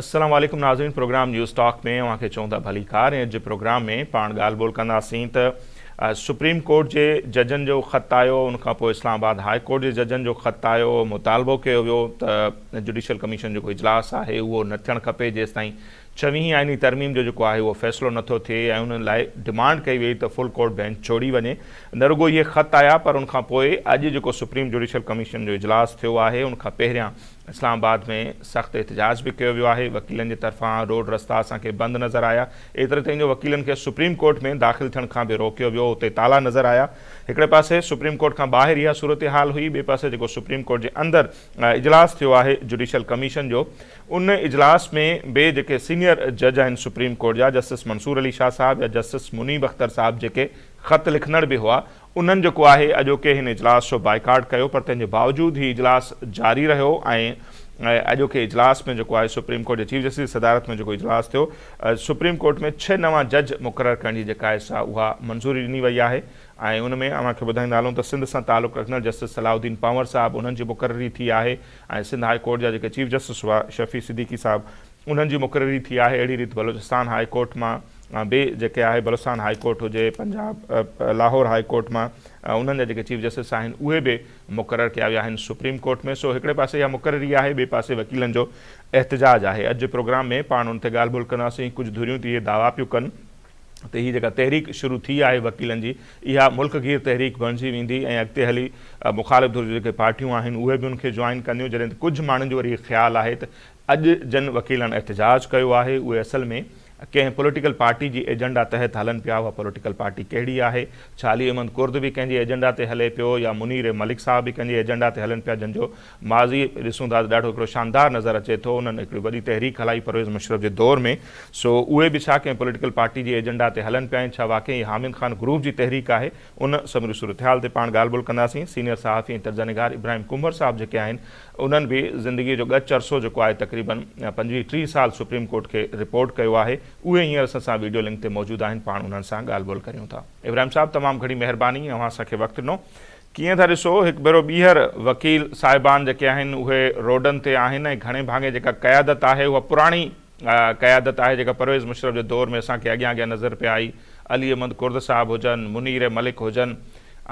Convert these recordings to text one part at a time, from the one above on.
السلام عليڪم ناظرين پروگرام نيوز ٽاڪ ۾ اوهان کي چون ٿا ڀلي ڪار ۽ اڄ پروگرام ۾ پاڻ ڳالهه ٻولهه ڪنداسين ته سپريم ڪورٽ جي ججن جو خط آيو ان کان پوء اسلام آباد هاء ڪورٽ جي ججن جو خط آيو مطالبو ڪيو ويو ته جوڊيشل ڪميشن جو جيڪو اجلاس آهي اهو نه ٿيڻ کپي جيستائين ڇويهين آئيني ترميم جو جيڪو آهي اهو فيصلو نه ٿو ٿئي ۽ ان لاء ڊمانڊ ڪئي وئي ته فل ڪورٽ بينچ ڇوڙي وڃي. نه رڳو اهي خط آيا پر ان کان پوء اڄ جيڪو سپريم جوڊيشل ڪميشن جو اجلاس ٿيو آهي ان کان پهريان اسلام آباد ۾ سخت احتجاج به ڪيو ويو آهي. وڪيلن جي طرفان روڊ رستا اسان کي بند نظر آيا. ايتري تائين جو وڪيلن کي سپريم ڪورٽ ۾ داخل ٿيڻ کان به روڪيو ويو. اتي تالا نظر آيا. هڪڙي پاسي سپريم ڪورٽ کان ٻاهر اها صورتحال هئي ٻئي پاسي جيڪو سپريم ڪورٽ جي اندر اجلاس ٿيو آهي جوڊيشل ڪميشن جو. ان اجلاس ۾ بي جيڪي سينئر جج آهن سپريم ڪورٽ جا جسٽس منصور علي شاهه صاحب يا جسٽس منيب اختر صاحب جيڪي خط لکندڙ به هئا انهن جيڪو آهي اڄوڪي هن اجلاس جو بائيڪاٽ ڪيو پر تنهن جي باوجود هي اجلاس جاري رهيو ۽ اڄوڪي اجلاس ۾ جيڪو آهي سپريم ڪورٽ جي چيف جسٽس جي صدارت ۾ جيڪو اجلاس ٿيو سپريم ڪورٽ ۾ ڇهه نوان جج مقرر ڪرڻ جي جيڪا آهي سا اها منظوري ڏني وئي آهي ۽ ان ۾ اوهان کي ٻڌائيندا هلون ته سنڌ سان تعلق رکندڙ جسٽس صلاح الدين پنور صاحب انهن جي مقرري ٿي آهي ۽ سنڌ هاء ڪورٽ جا جيڪي چيف جسٽس هئا شفيع صديقي صاحب انهن جي مقرري ٿي آهي اهڙي ريت بلوچستان هاء ڪورٽ مان به جيڪي آهي بلوچستان هاء ڪورٽ هجي پنجاب لاهور هاء ڪورٽ مان انهن جا جيڪي چيف جسٽس آهن اهي به مقرر ڪيا ويا آهن سپريم ڪورٽ ۾ سو هڪڙي پاسي اها مقرري آهي ٻئي پاسي وڪيلن جو احتجاج آهي اڄ جي پروگرام ۾ پاڻ ان تي ڳالهه ٻولهه ڪنداسين ڪجهه ڌريون ته اهي دعويٰ پيون ڪن ته هي جيڪا تحريڪ شروع ٿي آهي وڪيلن جي اها ملڪ گير تحريڪ بڻجي ويندي ۽ اڳتي هلي مخالف ڌر جون جيڪي پارٽيون آهن اهي به ان کي جوائن ڪنديون جڏهن ته ڪجهه ماڻهن جو وري هي خيال آهي ته اڄ جن وڪيلن احتجاج ڪيو آهي اهي اصل ۾ ڪنهن پوليٽيڪل پارٽي جي ايجنڊا تحت هلن پيا اها پوليٽيڪل پارٽي ڪهڙي آهي ڇا علي احمد ڪرد به ڪنهن جي ايجنڊا تي هلي پيو يا منير ملڪ صاحب به ڪنهن جي ايجنڊا تي هلن پيا جن جو ماضي ڏسون ٿا ته ڏاڍو هڪڙو شاندار نظر اچي ٿو انهن هڪڙي وڏي تحريڪ هلائي پرويز مشرف جي دور ۾ سو اهي به ڇا ڪنهن پوليٽيڪل پارٽي جي ايجنڊا تي هلن پيا ۽ ڇا واقعي هي حامد خان گروپ جي تحريڪ آهي ان سموري صورتحال تي پاڻ ڳالهه ٻولهه ڪنداسين سينيئر صحافي ۽ تجزئه نگار ابراهيم ڪنڀر صاحب جيڪي آهن انهن به زندگي جو ڳچ عرصو جيڪو آهي تقريبا پنجويهه ٽيهه سال سپريم ڪورٽ کي رپورٽ ڪيو آهي اهي هينئر اسان سان ويڊيو لنڪ تي موجود آهن پاڻ انهن سان ڳالهه ٻولهه ڪريون ٿا. ابراهيم صاحب تمام گھڻي مهرباني اوهان اسان کي وقت ڏنو. ڪيئن ٿا ڏسو؟ هڪ ڀيرو ٻيهر وڪيل صاحبان جيڪي آهن اهي روڊن تي آهن ۽ گهڻي ڀاڱي جيڪا قيادت آهي اها پراڻي قيادت آهي جيڪا پرويز مشرف جي دور ۾ اسان کي اڳيان اڳيان نظر پئي آئي علي احمد ڪرد صاحب هجن منير ملڪ هجن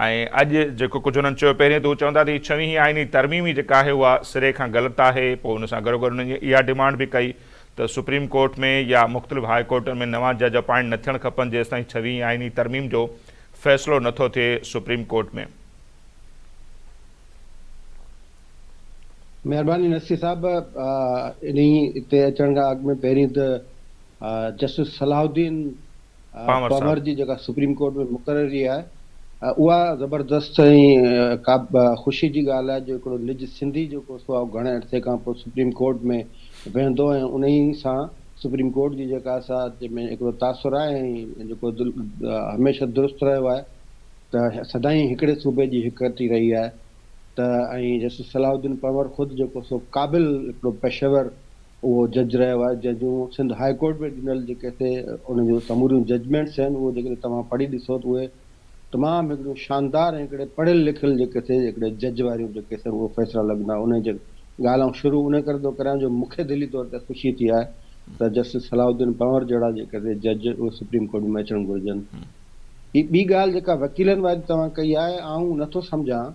۽ اڄ جيڪو ڪجهه انهن چيو پهرين ته هو چون ٿا ته هي ڇويهين آئيني ترميم ئي جيڪا آهي اها سري کان غلط آهي پوء ان سان گڏوگڏ انهن اها ڊمانڊ به ڪئي ته سپريم ڪورٽ ۾ يا مختلف هاء ڪورٽن ۾ نوان جج اپائنٽ نه ٿيڻ کپن جيستائين ڇويهين آئيني ترميم جو فيصلو نه ٿو ٿئي سپريم ڪورٽ ۾. مهرباني نصير صاحب انهي تي اچڻ کان اڳ ۾ پهرين ته جسٽس صلاح الدين پنور جي جيڪا سپريم ڪورٽ ۾ مقرري آهي اها زبردست ۽ ڪا خوشي جي ڳالهه آهي جو هڪڙو نج سنڌي جيڪو سو آهو گهڻي عرصي کان پوء سپريم ڪورٽ ۾ ويهندو ۽ انهي سان سپريم ڪورٽ جي جيڪا اسا جي ۾ هڪڙو تاثر آهي ۽ جيڪو دل هميشه درست رهيو آهي ته سدائين هڪڙي صوبي جي هڪرٽي رهي آهي ته ۽ جسٽس صلاح الدين پنور خود جيڪو سو قابل هڪڙو پيشيور اهو جج رهيو آهي جنهن سنڌ هاء ڪورٽ ۾ ڏنل جيڪي سي ان جون سموريون ججمينٽس آهن اهو جيڪڏهن توهان پڙهي ڏسو ته اهي تمام هڪڙيون شاندار ۽ هڪڙي پڙهيل لکيل جيڪي سي هڪڙي جج واريون جيڪي سي اهي فيصلا لڳندا انهي جي ڳالهه آئون شروع انهي ڪري ٿو ڪريان جو مونکي دلي طور تي خوشي ٿي آهي ته جسٽس صلاح الدين پنور جهڙا جيڪي سي جج اهي سپريم ڪورٽ ۾ اچڻ گهرجن هي ٻي ڳالهه جيڪا وڪيلن واري توهان ڪئي آهي آئون نٿو سمجهان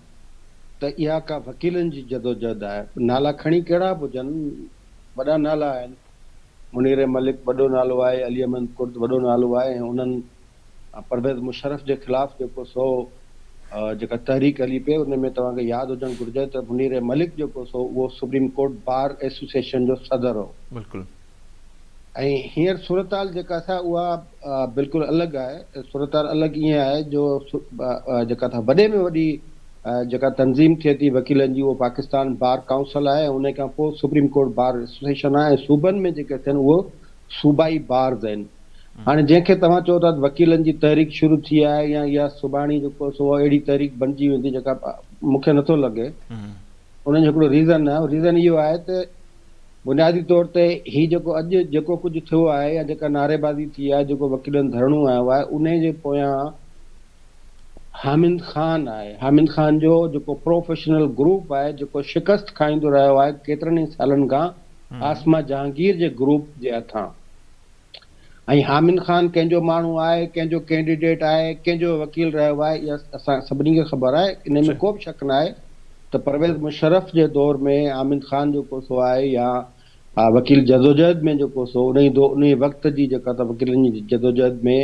ته اها ڪا وڪيلن جي جدوجهد آهي. نالا کڻي ڪهڙا به هجن، وڏا نالا آهن. منير ملڪ وڏو نالو آهي، علي احمد ڪرد وڏو نالو آهي ۽ انهن پرويز مشرف جي خلاف جيڪو سو جيڪا تحريڪ هلي پئي ان ۾ توهان کي ياد هجڻ گهرجي ته منير ملڪ جيڪو سو اهو سپريم ڪورٽ بار ايسوسيئيشن جو صدر هو. بلڪل. ۽ هينئر صورتحال جيڪا سا اها بلڪل الڳ آهي، صورتحال الڳ ائين آهي جو جيڪا سا وڏي ۾ وڏي جيڪا تنظيم ٿئي ٿي وڪيلن جي اهو پاڪستان بار ڪائونسل آهي ۽ انهي کان پوء سپريم ڪورٽ بار ايسوسيئيشن آهي ۽ صوبن ۾ جيڪي ٿين اهي صوبائي بارز آهن هاڻي جنهن کي توهان چئو ٿا ته وڪيلن جي تحريڪ شروع ٿي آهي يا اها سڀاڻي جيڪو سو اهڙي تحريڪ بنجي ويندي جيڪا مون کي نٿو لڳي انهن جو هڪڙو ريزن آهي ريزن اهو آهي ته بنيادي طور تي هي جيڪو اڄ جيڪو ڪجهه ٿيو آهي يا جيڪا نعري بازي ٿي آهي جيڪو وڪيلن ڌرڻو هنيو آهي انهي جي پويان حامد خان آهي حامد خان جو جيڪو پروفيشنل گروپ آهي جيڪو شڪست کائيندو رهيو آهي ڪيترن ئي سالن کان عاصمه جهانگير جي گروپ جي هٿان ۽ حامد خان ڪنهن جو ماڻهو آهي، ڪنهن جو ڪينڊيڊيٽ آهي، ڪنهن جو وڪيل رهيو آهي، اها اسان سڀني کي خبر آهي، انهي ۾ ڪو به شڪ نه آهي ته پرويز مشرف جي دور ۾ حامد خان جو ڪوسو آهي يا وڪيل جدوجهد ۾ جو ڪوسو انهي دو انهي وقت جي جيڪا ته وڪيلن جي جدوجهد ۾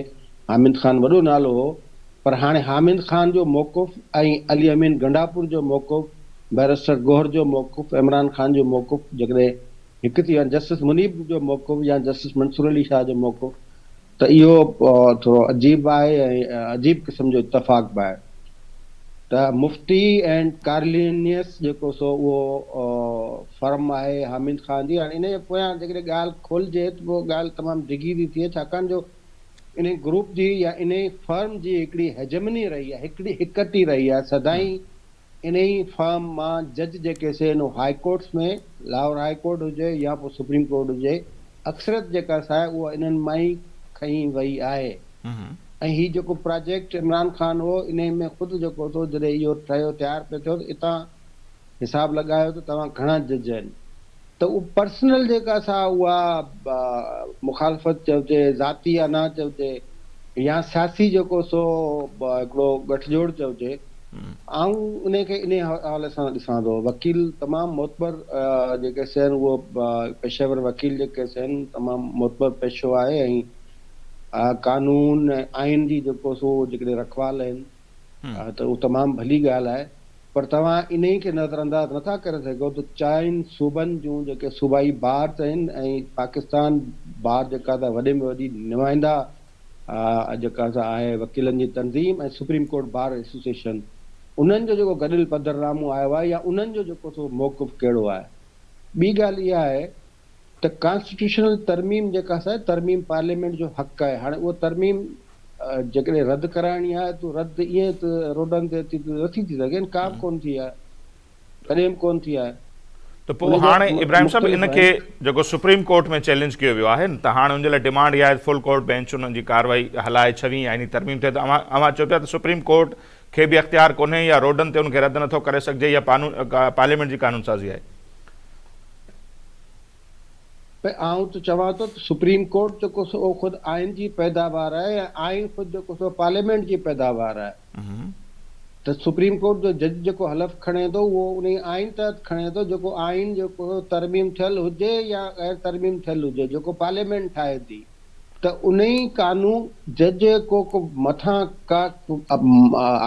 حامد خان وڏو نالو هو پر هاڻي حامد خان جو موقف ۽ علي امين گنڊاپور جو موقف بئريسٽر گوهر جو موقف عمران خان جو موقف جيڪڏهن هڪ ٿيو جسٽس منيب جو موقف يا جسٽس منصور علي شاهه جو موقف ته اهو ٿورو عجيب به آهي ۽ عجيب قسم جو اتفاق به آهي ته مفتي اينڊ ڪارلينيس جيڪو سو اهو فرم آهي حامد خان جي هاڻي انهي پويان جيڪڏهن ڳالهه کولجي ته پوء ڳالهه تمام ڊگهي ٿي ٿئي ڇاڪاڻ جو انهي گروپ جي يا انهي فرم جي هڪڙي هيجمني رهي آهي هڪڙي هڪٽي رهي آهي سدائين انهي فارم مان جج جيڪي سينو high courts ۾ Lahore high court هجي يا پوء سپريم ڪورٽ هجي اڪثريت جيڪا سا آهي اها انهن مان ئي کنئي وئي آهي ۽ هي جيڪو پراجيڪٽ عمران خان هو انهي ۾ خود جيڪو ٿو جڏهن اهو ٺهيو تيار پيو ٿيو ته اتان حساب لڳايو ته توهان گهڻا جج آهن. ته اهو پرسنل جيڪا سا اها مخالفت چئجي، ذاتي انا چئجي يا سياسي جيڪو سو هڪڙو ڳٺجوڙ چئجي، آئون انهي کي انهي حوالي سان ڏسان ٿو. وڪيل تمام معتبر جيڪي سين اهو پيشيور وڪيل جيڪي سين تمام معتبر پيشو آهي ۽ قانون ۽ آئين جي جيڪو سو جيڪڏهن رکوال آهن. ها ته اهو تمام ڀلي ڳالهه آهي پر توهان انهي کي نظر انداز نٿا ڪري سگهو ته چئن صوبن جون جيڪي صوبائي بارڊز آهن ۽ پاڪستان بار جيڪا سا وڏي ۾ وڏي نمائنده جيڪا سا آهي وڪيلن جي تنظيم ۽ سپريم ڪورٽ بار ايسوسيئيشن انهن جو جيڪو گڏيل پڌرنامو آيو آهي يا انهن جو جيڪو سو موقف ڪهڙو آهي ٻي ڳالهه اها آهي ته ڪانسٽيٽيوشنل ترميم جيڪا آهي سا ترميم پارليامينٽ جو حق آهي هاڻي اها ترميم جيڪڏهن رد ڪرائڻي آهي ته رد ائين ته روڊن تي اچي ته نٿي ٿي سگهي ڪا به ڪونه ٿي آهي ڪڏهن به ڪونه ٿي آهي. ته پوء هاڻي ابراهيم صاحب ان کي جيڪو سپريم ڪورٽ ۾ چئلينج ڪيو ويو آهي ته هاڻي ان جي لاء ڊيمانڊ اها آهي ته فل ڪورٽ بينچ انهن جي ڪارروائي هلائي ڇوين آئيني ترميم ٿئي ته اوهان اوهان چئو پيا ته سپريم ڪورٽ کي به اختيار ڪونهي يا روڊن تي ان کي رد نٿو ڪري سگهجي اها پارليامينٽ جي قانون سازي آهي. ۽ آئون ته چوان ٿو ته سپريم ڪورٽ جيڪو سو اهو خود آئين جي پيداوار آهي ۽ آئين خود جيڪو سو پارليامينٽ جي پيداوار آهي ته سپريم ڪورٽ جو جج جيڪو حلف کڻي ٿو اهو انهي آئين تحت کڻي ٿو جيڪو آئين جيڪو ترميم ٿيل هجي يا غير ترميم ٿيل هجي جيڪو پارليامينٽ ٺاهي ٿي. ته انهي قانو جج ڪو ڪو مٿان ڪا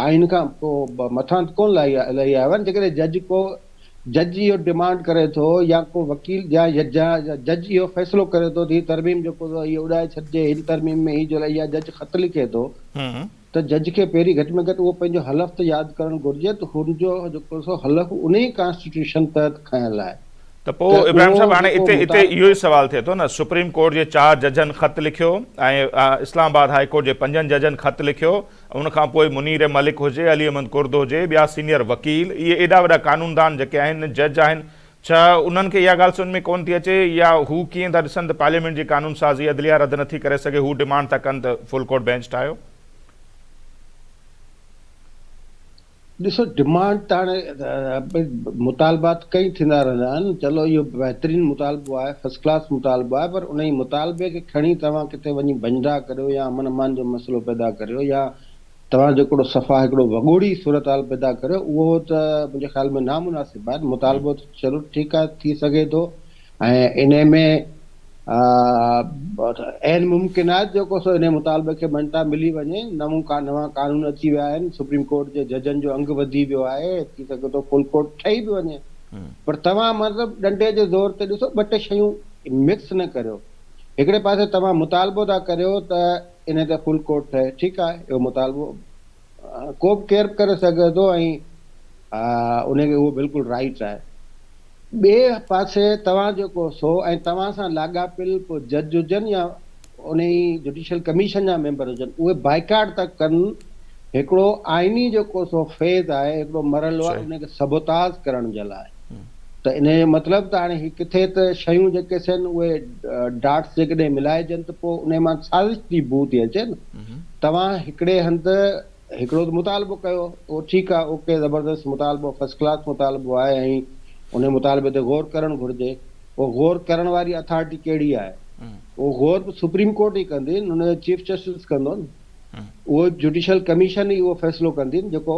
آئين کان ڪو مٿان ڪونه لهي لهي آيو آهي جيڪڏهن جج ڪو جج اهو ڊمانڊ ڪري ٿو يا ڪو وڪيل يا جج اهو فيصلو ڪري ٿو ته هي ترميم جيڪو اهو اڏائي ڇڏجي هن ترميم ۾ هي جو اهي جج خط لکي ٿو ته جج کي پهرين گهٽ ۾ گهٽ اهو پنهنجو حلف ته ياد ڪرڻ گهرجي ته هن جو جيڪو سو حلف انهي ڪانسٽيٽيوشن تحت کنيل آهي ته پوء ابراهيم صاحب هاڻي اتي اتي اهو ئي سوال ٿئي ٿو نه سپريم ڪورٽ جي چار ججن خط لکيو ۽ اسلام آباد هائي ڪورٽ جي پنجن ججن خط لکيو ان کان پوء منير ملڪ هجي علي احمد ڪرد هجي ٻيا سينيئر وڪيل اهي ايڏا وڏا قانوندان جيڪي آهن جج آهن ڇا انهن کي اها ڳالهه سمجهه ۾ ڪونه ٿي اچي يا هو ڪيئن ٿا ڏسن ته پارليامينٽ جي قانون سازي عدليه رد نٿي ڪري سگهي هو ڊمانڊ ٿا ڪن ته فل ڪورٽ بينچ ٺاهيو. ڏسو ڊمانڊ ته هاڻي مطالبات ڪئين ٿيندا رهندا آهن چلو اهو بهترين مطالبو آهي فرسٽ ڪلاس مطالبو آهي پر انهي مطالبي کي کڻي توهان ڪٿي وڃي ڀڃ ڊاهه ڪريو يا امن امان جو مسئلو پيدا ڪريو يا توهان جيڪڙو صفا هڪڙو وڳوڙي صورتحال پيدا ڪريو اهو ته منهنجي خيال ۾ نامناسب آهي مطالبو ته چلو ٺيڪ آهي ٿي سگهي ٿو ۽ انهي ۾ عين ممڪن آهي جيڪو سو انهي مطالبي کي مڃتا ملي وڃي نون نوان قانون اچي ويا آهن سپريم ڪورٽ جي ججن جو انگ وڌي ويو آهي ٿي سگهي ٿو فل ڪورٽ ٺهي به وڃي پر توهان مطلب ڏنڊي جي زور تي ڏسو ٻه ٽي شيون مڪس نه ڪريو هڪڙي پاسي توهان مطالبو ٿا ڪريو ته انهيء تي فل ڪورٽ ٺهي. ٺيڪ آهي، اهو مطالبو ڪو به ڪير به ڪري سگهي ٿو ۽ انهيء کي اهو بلڪل رائيٽس آهي. ٻئي پاسي توهان جيڪو سو ۽ توهان سان لاڳاپيل ڪو جج هجن يا انهيء جوڊيشل ڪميشن جا ميمبر هجن، اهي بائيڪاٽ ته ڪن، هڪڙو آئيني جيڪو سو فيز آهي، هڪڙو مرحلو آهي، انهيء کي سبوتاز ڪرڻ جي لاء. ته انهيء جو مطلب ته هاڻي هي ڪٿي ته شيون جيڪي سين اهي ڊاٽس جيڪڏهن ملائجن ته پوء انهيء مان سازش جي بوء ٿي اچي نه. توهان هڪڙي هنڌ هڪڙو ته مطالبو ڪيو اهو ٺيڪ آهي اوڪي زبردست مطالبو فرسٽ ڪلاس مطالبو آهي ۽ انهيء مطالبي تي غور ڪرڻ گهرجي اهو غور ڪرڻ واري اٿارٽي ڪهڙي آهي اهو غور به سپريم ڪورٽ ئي ڪندي نه ان جو چيف جسٽس ڪندو نه. اهو جوڊيشل ڪميشن ئي اهو فيصلو ڪندي جيڪو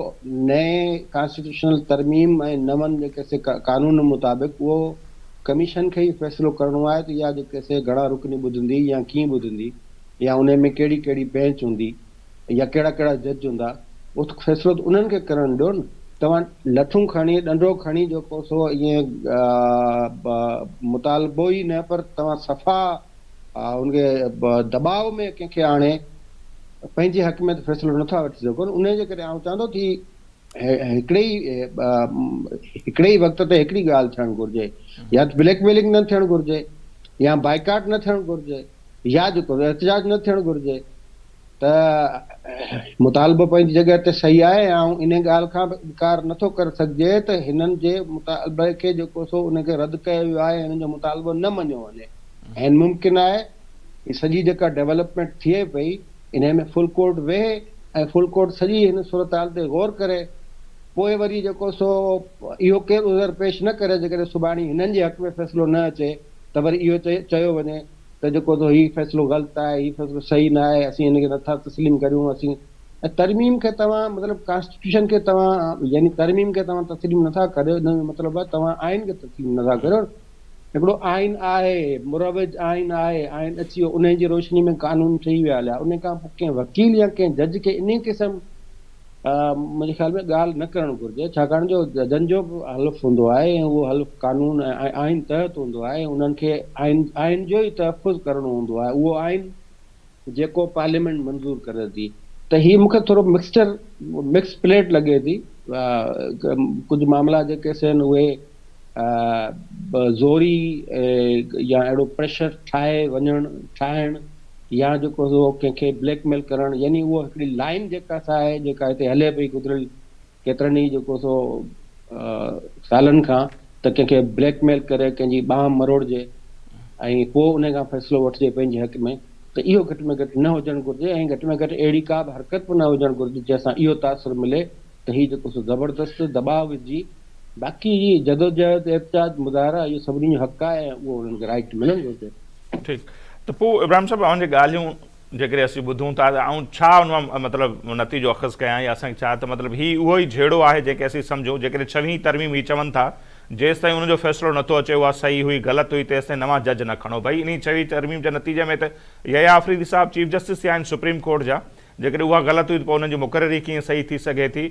نئين ڪانسٽيٽيوشنل ترميم ۽ نون جيڪي سي قانون مطابق اهو ڪميشن کي ئي فيصلو ڪرڻو آهي ته اها جيڪي سي گهڻا رڪني ٻڌندي يا ڪيئن ٻڌندي يا انهي ۾ ڪهڙي ڪهڙي بينچ هوندي يا ڪهڙا ڪهڙا جج هوندا اهو فيصلو ته انهن کي ڪرڻ ڏيو نه. توهان لٺون کڻي ڏنڊو کڻي جيڪو سو ائين مطالبو ئي نه پر توهان صفا ان کي دٻاء ۾ ڪنهن کي آڻي پنهنجي حق ۾ ته فيصلو نٿا وٺي سگهن ان جي ڪري آئون چوان ٿو ته هڪڙي ئي هڪڙي ئي وقت تي هڪڙي ڳالهه ٿيڻ گهرجي يا ته بليڪ ميلنگ نه ٿيڻ گهرجي يا بائيڪاٽ نه ٿيڻ گهرجي يا جيڪو احتجاج نه ٿيڻ گهرجي ته مطالبو پنهنجي جڳهه تي صحيح آهي ۽ آئون انهي ڳالهه کان به انڪار نه ٿو ڪري سگهجي ته هنن جي مطالبي کي جيڪو سو ان کي رد ڪيو ويو آهي ۽ هنن جو مطالبو نه مڃيو وڃي. عين ممڪن آهي هي سڄي جيڪا ڊولپمينٽ ٿئي پئي انهي ۾ فل ڪورٽ ويهي ۽ فل ڪورٽ سڄي هن صورتحال تي غور ڪري پوء وري جيڪو سو اهو ڪير عذر پيش نه ڪري جيڪڏهن سڀاڻي هنن جي حق ۾ فيصلو نه اچي ته وري اهو چيو وڃي ته جيڪو تو هي فيصلو غلط آهي، هي فيصلو صحيح نه آهي، اسين هن کي نٿا تسليم ڪريون، اسين ۽ ترميم کي توهان مطلب ڪانسٽيٽيوشن کي توهان يعني ترميم کي توهان تسليم نٿا ڪريو ان جو مطلب آهي توهان آئين کي تسليم نٿا ڪريو هڪڙو آئين آهي مروج آئين آهي آئين اچي ويو انهي جي روشني ۾ قانون ٺهي ويا هليا انهي کان پوء ڪنهن وڪيل يا ڪنهن جج کي انهي قسم منهنجي خيال ۾ ڳالهه نه ڪرڻ گهرجي ڇاڪاڻ جو ججن جو به حلف هوندو آهي ۽ اهو حلف قانون ۽ آئين تحت هوندو آهي ۽ انهن کي آئين آئين جو ئي تحفظ ڪرڻو هوندو آهي اهو آئين جيڪو پارليامينٽ منظور ڪري ٿي ته هي مون کي ٿورو مڪسچر مڪس پليٽ لڳي ٿي ڪجهه معاملا جيڪي سين اهي به زوري يا اهڙو پريشر ٺاهي وڃڻ ٺاهڻ يا جيڪو سو ڪنهن کي بليڪ ميل ڪرڻ يعني اها هڪڙي لائين جيڪا سا آهي جيڪا هتي هلي پئي گذريل ڪيترن ئي جيڪو سو سالن کان ته ڪنهن کي بليڪ ميل ڪري ڪنهن جي ٻانهن مروڙجي ۽ پوء ان کان فيصلو وٺجي پنهنجي حق ۾ ته اهو گهٽ ۾ گهٽ نه هجڻ گهرجي ۽ گهٽ ۾ گهٽ اهڙي ڪا به حرڪت به نه هجڻ گهرجي جنهن سان اهو تاثر ملي ته هي جيڪو سو زبردست دٻاء وجهي باقي هي جدوجهد احتجاج مظاهرا اهو سڀني جو حق آهي ۽ اهو انهن کي رائٽ ملڻ گهرجي. ٺيڪ ته پوء ابراهيم صاحب اوهان جي ڳالهيون جيڪڏهن اسين ٻڌون ٿا ته آئون ڇا ان مان مطلب نتيجو اخذ ڪيان يا اسان کي ڇا ته مطلب هي اهو ئي جهيڙو آهي جنهن کي اسين سمجهون جيڪڏهن ڇويهين ترميم هي چون ٿا جيستائين ان جو فيصلو نٿو اچي اها صحيح هئي غلط هئي تيستائين نوان جج نه کڻو ڀئي انهي ڇويهين ترميم جي نتيجي ۾ ته يحيٰ آفريدي صاحب چيف جسٽس ٿيا آهن سپريم ڪورٽ جا جيڪڏهن اها غلط هئي ته پوء انهن جي مقرري ڪيئن صحيح ٿي سگهي ٿي؟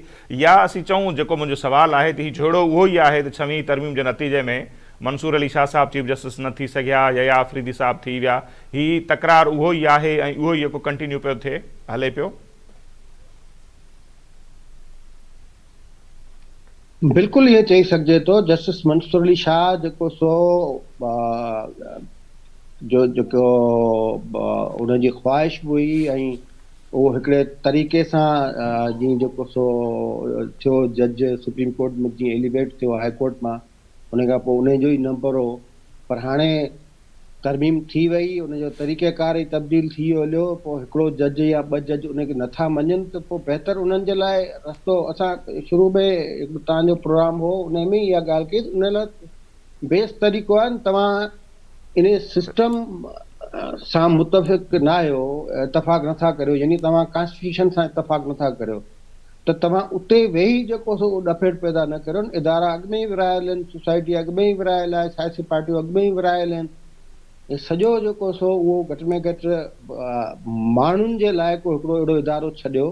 يا اسين چئون جيڪو منهنجو سوال آهي ته هي جهيڙو اهو ئي آهي ته ڇويهين ترميم جي نتيجي ۾ منصور علي شاهه صاحب چيف جسٽس نه ٿي سگهيا، يحيٰ آفريدي صاحب ٿي ويا. هي تڪرار اهو ئي آهي ۽ اهو ئي يڪو ڪنٽينيو پيو ٿئي، هلي پيو. بلڪل ائين چئي سگهجي ٿو، جسٽس منصور علي شاهه جيڪو سو جو جيڪو ان جي خواهش به هئي ۽ اهو هڪڙي طريقي سان جيئن جيڪو سو ٿيو جج سپريم ڪورٽ ۾ جيئن ايليويٽ ٿيو هاء ڪورٽ مان انهي کان پوء انهي جو ئي نمبر هو پر هاڻي ترميم ٿي وئي ان جو طريقه ڪار ئي تبديل ٿي ويو هليو پوء هڪڙو جج يا ٻه جج انهي کي نٿا مڃن ته پوء بهتر انهن جي لاء رستو اسان شروع ۾ هڪڙو توهان جو پروگرام هو انهي ۾ ئي اها ڳالهه ڪئي ته انهي لاء بيسٽ طريقو آهي توهان انهي سسٽم سان متفق ناهيو اتفاق نٿا ڪريو يعني توهان ڪانسٽيٽيوشن سان اتفاق نٿا ڪريو ته توهان اتي ويهي جيڪو سو اڏ ڦيڙ پيدا نه ڪريون، ادارا اڳ ۾ ئي ورهايل آهن، سوسائٽي اڳ ۾ ئي ورهايل آهي، سياسي پارٽيون اڳ ۾ ئي ورهايل آهن، هي سڄو جيڪو سو اهو گهٽ ۾ گهٽ ماڻهن جي لاء ڪو هڪڙو اهڙو ادارو ڇڏيو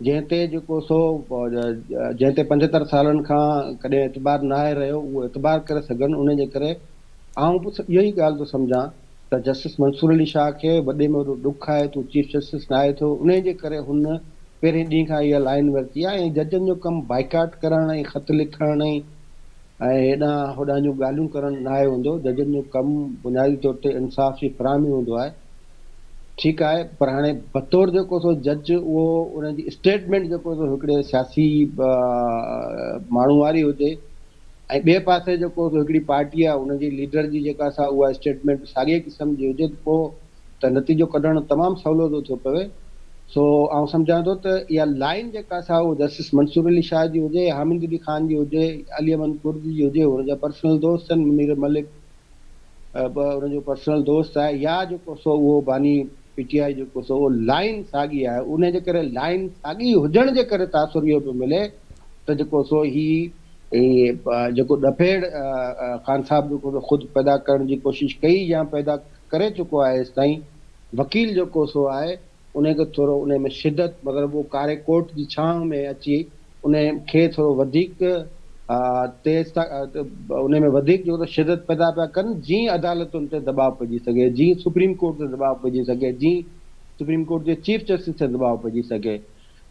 جنهن تي جيڪو سو جنهن تي پنجهتر سالن کان ڪڏهن اعتبار ناهي رهيو اهو اعتبار ڪري سگهن، ان جي ڪري آئون به اهو ئي ڳالهه ٿو سمجهان. ته جسٽس منصور علي شاهه کي وڏي ۾ وڏو ڏک آهي ته هو چيف جسٽس ناهي ٿيو، انهيء جي ڪري هن پهرين ڏينهن کان اها لائين ورتي آهي ۽ ججن جو ڪم بائيڪاٽ ڪرڻ ۽ خط لکڻ ۽ هيڏانهن هوڏانهن جون ڳالهيون ڪرڻ ناهي هوندو، ججن جو ڪم بنيادي طور تي انصاف جي فراهمي هوندو آهي. ٺيڪ آهي پر هاڻي بطور جيڪو سو جج اهو انهن جي اسٽيٽمينٽ جيڪو سو هڪڙي سياسي ماڻهو واري هجي، ۽ ٻئي پاسي جيڪو سو هڪڙي پارٽي آهي ان جي ليڊر جي جيڪا سا اها اسٽيٽمينٽ ساڳئي قسم جي هجي ته پوء ته نتيجو ڪڍڻ تمام سولو ٿو ٿيو پوي. سو آئون سمجهان ٿو ته اها لائين جيڪا سا اهو جسٽس منصور علي شاهه جي هجي، حامد علي خان جي هجي، علي احمد ڪرزي جي هجي، هن جا پرسنل دوست آهن منير ملڪ، ٻه ان جو پرسنل دوست آهي يا جيڪو سو اهو باني پي ٽي آء جيڪو سو اهو لائين ساڳي آهي ان جي ڪري لائين ساڳي هجڻ جي ڪري تاثر اهو پيو ملي ته جيڪو سو هي جيڪو ڏڦيڙ خان صاحب جيڪو سو خود پيدا ڪرڻ جي ڪوشش ڪئي يا پيدا ڪري چڪو آهي ايستائين وڪيل جيڪو سو آهي انهيء کي ٿورو انهيء ۾ شدت مگر اهو ڪاري ڪوٽ جي ڇانو ۾ اچي انهيء کي ٿورو وڌيڪ تيز ٿا انهيء ۾ وڌيڪ جيڪو ته شدت پيدا پيا ڪن جيئن عدالتن تي دٻاء پئجي سگهي جيئن سپريم ڪورٽ تي دٻاء پئجي سگهي جيئن سپريم ڪورٽ جي چيف جسٽس تي دٻاء پئجي سگهي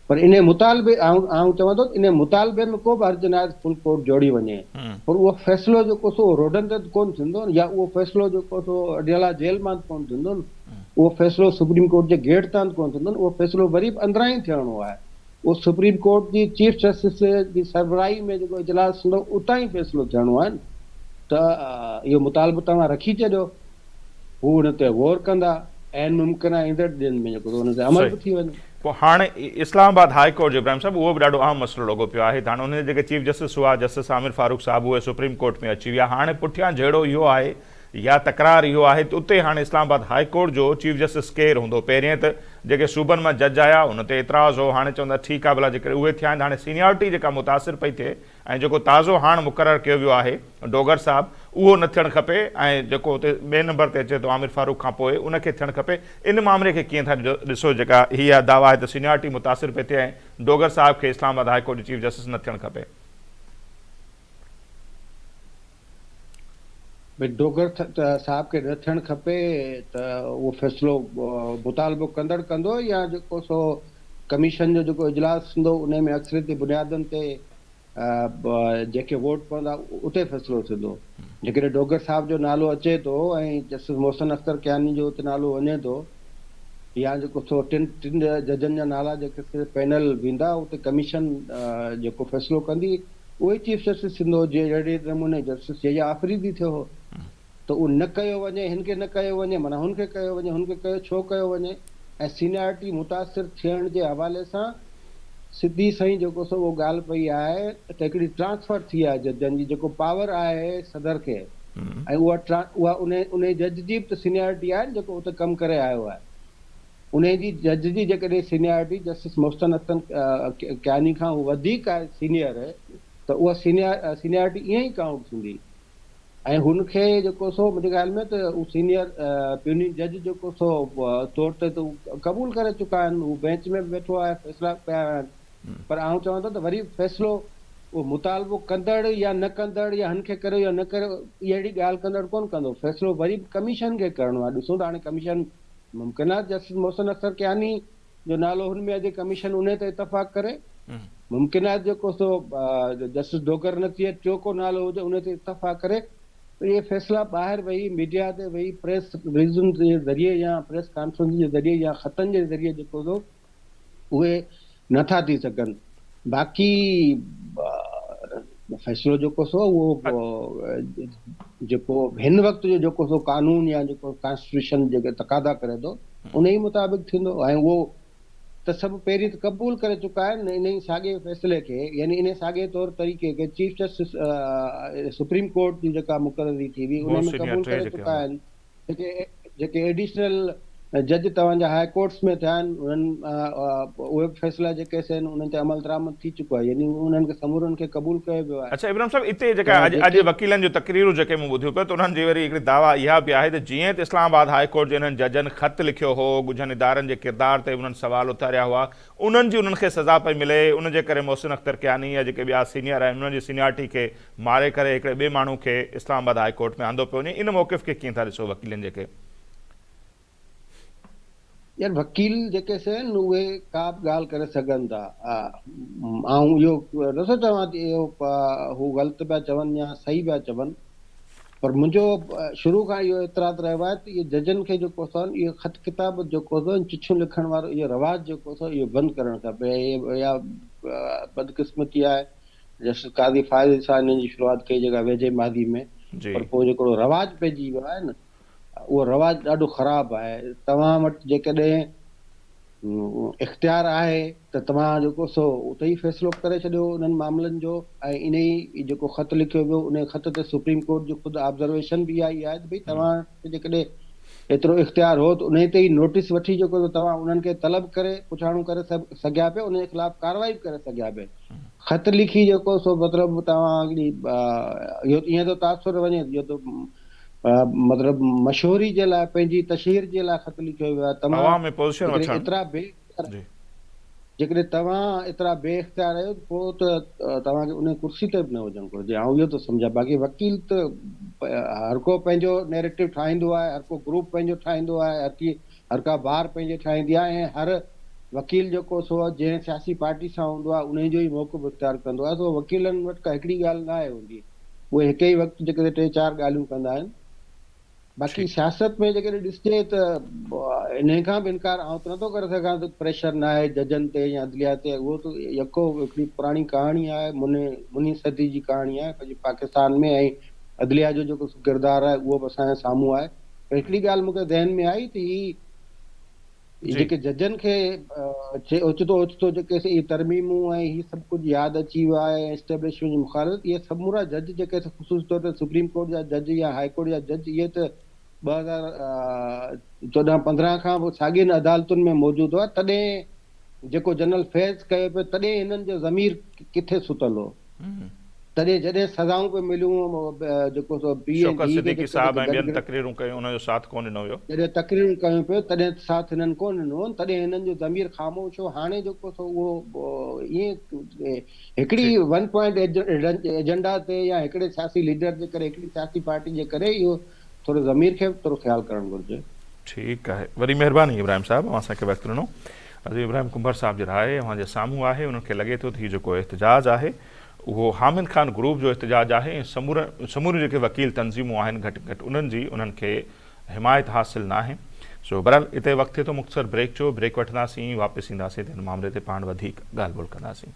پر انهي مطالبي آئون چوان ٿو ته انهي مطالبي ۾ ڪو به حرج ناهي ته فل ڪورٽ جوڙي وڃي پر اهو فيصلو جيڪو سو اهو روڊن تي ته ڪونه ٿيندو نه يا اهو فيصلو جيڪو سو اڊيالا جيل مان ته ڪونه ٿيندو نه اهو فيصلو سپريم ڪورٽ جي گيٽ تان ته ڪونه ٿيندو نه اهو فيصلو وري به اندران ئي ٿيڻو آهي اهو سپريم ڪورٽ جي چيف جسٽس جي سربراهي ۾ جيڪو اجلاس ٿيندو اتان ئي فيصلو ٿيڻو آهي نه ته اهو مطالبو توهان رکي ڇڏيو. هو ان تي غور ڪندا عين ممڪن آهي ايندڙ ڏينهن ۾ جيڪو ان تي عمل به ٿي وڃي. پوء هاڻ اسلام آباد هاء ڪورٽ جو ابراهيم صاحب اهو به ڏاڍو اهم مسئلو لڳو پيو آهي ته هاڻ انهن جا جيڪي چيف جسٽس هئا جسٽس عامر فاروق صاحب اهي سپريم ڪورٽ ۾ اچي ويا هاڻ پٺيان جهيڙو اهو آهي يا تڪرار اهو آهي ته اتي هاڻ اسلام آباد هاء ڪورٽ جو چيف جسٽس ڪير هوندو پهرين ته جيڪي صوبن مان جج آيا ان تي اعتراض هو هاڻ چوندا ٺيڪ آهي ڀلا جيڪڏهن اهي ٿيا آهن ته هاڻ سينيارٽي جيڪا متاثر پئي ٿئي ۽ جيڪو تازو هاڻ مقرر ڪيو ويو آهي ڊوگر صاحب اهو نه ٿيڻ کپي ۽ جيڪو اتي ٻئي نمبر تي اچي ٿو عامر فاروق کان پوء ان کي ٿيڻ کپي ان معاملي کي ڪيئن ٿا ڏسو جيڪا هي اها دعويٰ آهي ته سينيارٽي متاثر پئي ٿئي ۽ ڊوگر صاحب کي اسلام آباد هاء ڪورٽ جي چيف جسٽس نه ٿيڻ کپي. ڀي ڊوگر صاحب کي نه ٿيڻ کپي ته اهو فيصلو مطالبو ڪندڙ ڪندو يا جيڪو سو ڪميشن جو جيڪو اجلاس ٿيندو انهي ۾ اڪثريتي بنيادن تي جيڪي ووٽ پوندا اتي فيصلو ٿيندو جيڪڏهن ڊوگر صاحب جو نالو اچي ٿو ۽ جسٽس محسن اختر ڪياني جو اتي نالو وڃي ٿو يا جيڪو سو ٽن ٽن ججن جا نالا جيڪي پينل ويندا اتي ڪميشن جيڪو فيصلو ڪندي اهي چيف جسٽس سنڌو جي جهڙي نموني جسٽس جي جي آفريدي ٿيو هو ته اهو نه ڪيو وڃي هن کي نه ڪيو وڃي معنيٰ هن کي ڪيو وڃي هن کي ڪيو ڇو ڪيو وڃي ۽ سينيارٽي متاثر ٿيڻ جي حوالي سان سڌي سئي جيڪو سو اهو ڳالهه پئي آهي ته هڪڙي ٽرانسفر ٿي آهي ججن جي جيڪو پاور آهي صدر کي ۽ اها اها انهي انهي جج جي به ته سينيارٽي آهي نه جيڪو اتي ڪم ڪري آيو آهي. انهيء جي جج جي جيڪڏهن سينيارٽي جسٽس محسن حسن ڪياني کان وڌيڪ آهي سينيئر ته اها سينيارٽي ائين ئي ڪائونٽ ٿيندي ۽ هن کي جيڪو سو منهنجي خيال ۾ ته هو سينيئر پيونين جج جيڪو سو طور تي ته قبول ڪري چڪا آهن هو بينچ ۾ به ويٺو آهي فيصلا به ڪيا ويا آهن پر آئون چوان ٿو ته وري فيصلو اهو مطالبو ڪندڙ يا نه ڪندڙ يا هن کي ڪريو يا نه ڪريو اهڙي ڳالهه ڪندڙ ڪونه ڪندو فيصلو وري به ڪميشن کي ڪرڻو آهي ڏسون ٿا هاڻي ڪميشن ممڪن آهي جسٽس محسن اختر ڪياني جو نالو هن ۾ اچي ڪميشن انهي تي اتفاق ڪري، ممڪن آهي جيڪو سو جسٽس ڊوگر نٿي اچي ٽيون ڪو نالو هجي انهي تي اتفاق ڪري ته اهي فيصلا ٻاهر ويهي ميڊيا تي ويهي پريس رليزن جي ذريعي يا پريس ڪانفرنسن جي ذريعي يا خطن جي ذريعي جيڪو سو اهي نه ٿا ٿي سگهن باقي فيصلو جيڪو سو اهو جيڪو هن وقت جو جيڪو سو قانون يا جيڪو ڪانسٽيٽيوشن جيڪي تقاضا ڪري ٿو ان ئي مطابق ٿيندو ۽ اهو ته سڀ پهرين ته قبول ڪري چڪا آهن ان ئي ساڳي فيصلي کي يعني ان ساڳي طور طريقي کي چيف جسٽس سپريم ڪورٽ جي جيڪا مقرري ٿي هئي ان ۾ قبول ڪري چڪا آهن جيڪي ايڊيشنل جج توهان جا هاء ڪورٽس ۾ ٿيا آهن انهن اهي به فيصلا جيڪي سي آهن انهن تي عملدرآمد ٿي چڪو آهي يعني انهن کي سمورن کي قبول ڪيو ويو آهي. اڇا ابراهيم صاحب اتي جيڪا اڄ وڪيلن جون تقريرون جيڪي مون ٻڌيون پيو ته انهن جي وري هڪڙي دعويٰ اها به آهي ته جيئن ته اسلام آباد هاء ڪورٽ جي انهن ججن خط لکيو هو ڳجهن ادارن جي ڪردار تي به انهن سوال اٿاريا هئا انهن جي انهن کي سزا پئي ملي ان جي ڪري محسن اختر ڪياني يا جيڪي ٻيا سينيئر آهن انهن جي سينيارٽي کي ماري ڪري هڪڙي ٻئي ماڻهو کي اسلام آباد هاء ڪورٽ ۾ آندو پيو وڃي ان موقف کي ڪيئن ٿا ڏسو وڪيلن جيڪي. يار وڪيل جيڪي سين اهي ڪابه ڳالهه ڪري سگهن ٿا آئون اهو نٿو چوان ته اهو هو غلط پيا چون يا صحيح پيا چون پر منهنجو شروع کان اهو اعتراض رهيو آهي ته اهي ججن کي جيڪو سون اهو خط ڪتابت جيڪو سون چٺيون لکڻ وارو اهو رواج جيڪو سون اهو بند ڪرڻ کپي اهي يا بدقسمتي آهي جسٽس قاضي فائز عيسيٰ انهن جي شروعات ڪئي جيڪا ويجهي ماضي ۾ پر پوء جيڪو اهڙو رواج پئجي ويو آهي نه اهو رواج ڏاڍو خراب آهي توهان وٽ جيڪڏهن اختيار آهي ته توهان جيڪو سو اتي ئي فيصلو ڪري ڇڏيو انهن معاملن جو ۽ انهي جيڪو خط لکيو ويو انهي خط تي سپريم ڪورٽ جي خود آبزرويشن به اها ئي آهي ته ڀئي توهان ته جيڪڏهن ايترو اختيار هو ته انهي تي ئي نوٽيس وٺي جيڪو ته توهان انهن کي طلب ڪري پڇاڻو ڪري سگهيا پيا انهي خلاف ڪارروائي به ڪري سگهيا پيا خط لکي جيڪو سو مطلب توهان هڪڙي اهو ائين ٿو تاثر وڃي جو ته مطلب مشهوري جي لاء پنهنجي تشهير جي لاء خط لکيو ويو آهي توهان عوام ۾ پوزيشن وٺڻ ايترا بي پر جيڪڏهن توهان ايترا بي اختيار آهيو ته پوء ته توهان کي انهيء ڪرسي تي به نه هجڻ گهرجي. آئون اهو ٿو سمجهان. باقي وڪيل ته هر ڪو پنهنجو نيريٽو ٺاهيندو آهي، هر ڪو گروپ پنهنجو ٺاهيندو آهي، هر ڪي هر ڪا بار پنهنجي ٺاهيندي آهي ۽ هر وڪيل جيڪو سو جنهن سياسي پارٽي سان هوندو آهي انهي جو ئي موقف اختيار ڪندو آهي سو وڪيلن وٽ ڪا هڪڙي ڳالهه ناهي هوندي. اهي هڪ ئي وقت جيڪڏهن ٽي چار ڳالهيون ڪندا آهن. باقي سياست ۾ جيڪڏهن ڏسجي ته انهي کان به انڪار آئون ته نٿو ڪري سگهان ته پريشر ناهي ججن تي يا عدليه تي اهو ته يڪو هڪڙي پراڻي ڪهاڻي آهي منهين صدي جي ڪهاڻي آهي پنهنجي پاڪستان ۾ ۽ عدليه جو جيڪو ڪردار آهي اهو به اسان جي سامهون آهي پر هڪڙي ڳالهه مون کي ذهن ۾ آئي ته هي جي جيڪي ججن کي اوچتو اوچتو جيڪي سي اهي ترميمون ۽ هي سڀ ڪجهه ياد اچي ويو آهي ۽ اسٽيبلشمينٽ جي مخالفت اهي سمورا جج جيڪي سي خصوصي طور تي سپريم ڪورٽ جا جج يا هاء ڪورٽ جا جج اهي ته ٻه هزار چوڏهن پندرهن کان به ساڳين عدالتن ۾ موجود هئا تڏهن جيڪو جنرل فيض ڪيو پيو تڏهن هنن جو ضمير ڪٿي ستل هو. تڏهن جڏهن سزائون پيون مليون جيڪو سو پيء ۽ شوڪت ڌيء کي صديقي هڪ صاحب ٻئي کي ۽ گڏ ٻين ڪري تقريرون ڪيون انهن جو ساٿ ڪونه ڏنو ويو. جڏهن تقريرون ڪيون پيون تڏهن ساٿ هنن ڪونه ڏنو تڏهن هنن جو ضمير خاموش هو هاڻي جيڪو سو اهو ائين هڪڙي جي. ون پوائنٽ ايجنڊا تي يا هڪڙي سياسي ليڊر جي ڪري هڪڙي سياسي پارٽي جي ڪري اهو ٿوري ضمير کي به ٿورو خيال ڪرڻ گهرجي. ٺيڪ آهي وڏي مهرباني ابراهيم صاحب اوهان اسان کي وقت ڏنو عظيم ابراهيم ڪنڀر صاحب جي راء اوهان جي سامهون آهي انهن کي لڳي ٿو ته هي جيڪو احتجاج آهي اهو حامد خان گروپ جو احتجاج آهي ۽ سمورن سموريون جيڪي وڪيل تنظيمون آهن گهٽ گهٽ انهن جي انهن کي حمايت حاصل ناهي سو بهرحال اتي وقت ٿئي ٿو مختصر بريڪ جو بريڪ وٺنداسين واپس اينداسين ته هن معاملي تي پاڻ وڌيڪ ڳالهه ٻولهه ڪنداسين.